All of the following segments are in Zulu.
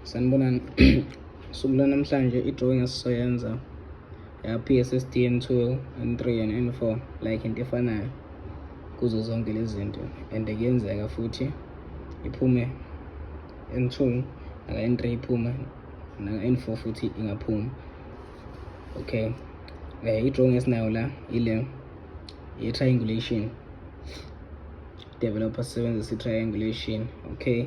sanibonani suku lanamhlanje i-drawing esizoyenza ya-pssdn 2 and 3 and n 4 like into efanayo kuzo zonke lezi zinto and kuyenzeka futhi iphume n 2 naka n 3 iphume naka n 4 futhi ingaphuma okay um i-drawing esinayo la ile ye-triangulation developer sisebenzisa i-triangulation okay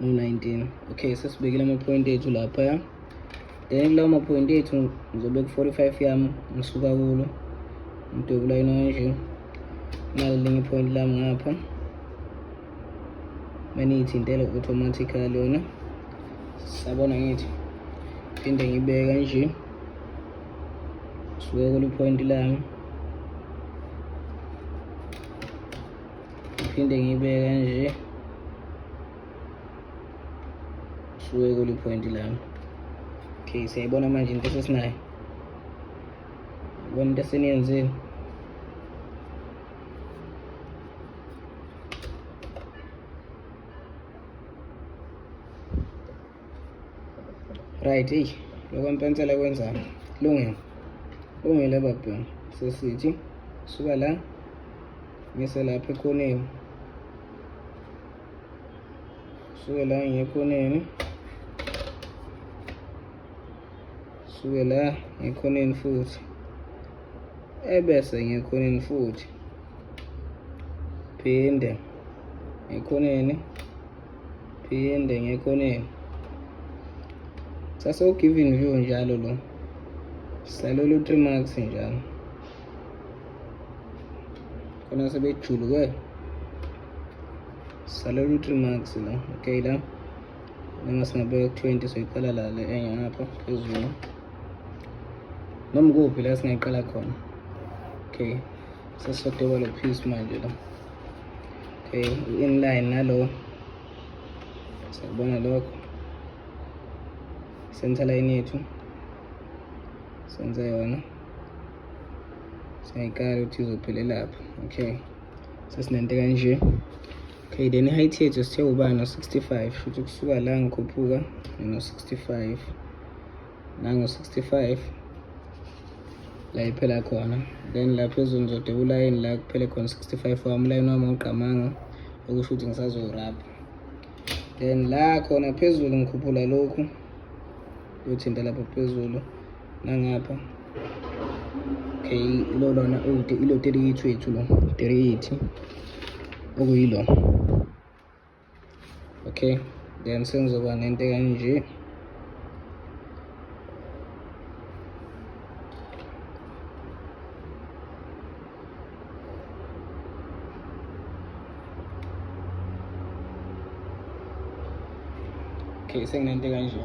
no-19 okay sesibekile amaphoyinti ethu laphaya then kulawo maphoyinti ethu ngizobe ku-45 yami ngisuka kulo ngidwebula yona kanje nalo linye iphoyinti lami ngapha maniyithintele automatically yona sabona ngithi phinde ngibeke kanje suke kuliphoyinti lami Ngiphinde ngiyibeke nje. Suke kuli point lami. Okay, siyayibona manje into esinayo. Yibona into eseniyenzile. right eyi lokho mpensela kwenzani lungile lungile babhemu sesithi suka la ngise lapha ekhoneni suke la ngiye ekhoneni suke la ngekhoneni futhi ebese ngekhoneni futhi phinde ngekhoneni phinde ngekhoneni sase u-giving view njalo lo silalele u-three marks njalo khona sebejuluke silalele u-three marks la okay la noma singabeka ku-twenty soyiqala la le enye ngapha phezulu noma kuphi la singayiqala khona okay sesisodoba lo piece manje la Okay, in line nalo. Siyabona lokho. Center line yethu. Senza yona. Siyayikala ukuthi izophele lapha. Okay. Sesinento kanje. Okay, then height yethu sithe ubani no 65, futhi kusuka la ngikhuphuka no 65. nango-65 la iphela khona then la phezulu ngizodeba ulayini la kuphele khona 65 wami ulayini wami awugqamanga okusho ukuthi ngisazowurabha then la khona phezulu ngikhuphula lokhu uyothinta lapha phezulu nangapha okay ilo lona ilo 38 wethu lo 38 okuyilo okay then sengizoba nento kanje okay senginento kanje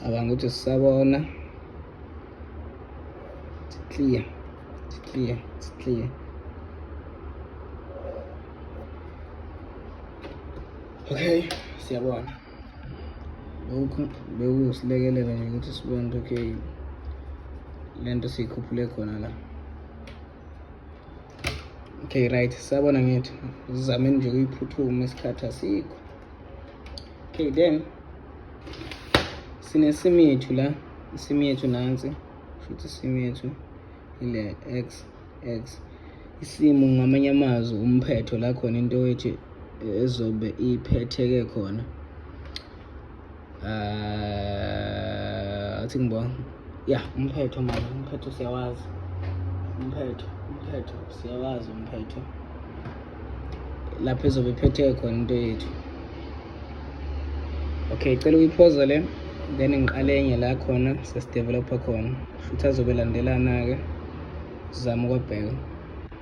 abanga ukuthi sisabona clear Titriye, titriye. Okay, siyabona. Lokhu bekusilekelela nje ukuthi sibone ukuthi okay lento siyikhuphule khona la. Okay right, siyabona ngithi sizameni nje ukuyiphuthuma isikhathi asikho. Okay then sinesim yethu la, isim yethu nansi. Futhi isimu yethu ile x x isimu ngamanye amazwi umphetho la khona into wethu ezobe iphetheke khona uh, I think ngibona ya umphetho manje umphetho siyawazi umphetho umphetho siyawazi umphetho lapho ezobe iphethe khona into yethu okay cela uyiphoza le then ngiqale enye la khona sesidevelopha khona futhi azobe landelana-ke sizame ukwabheka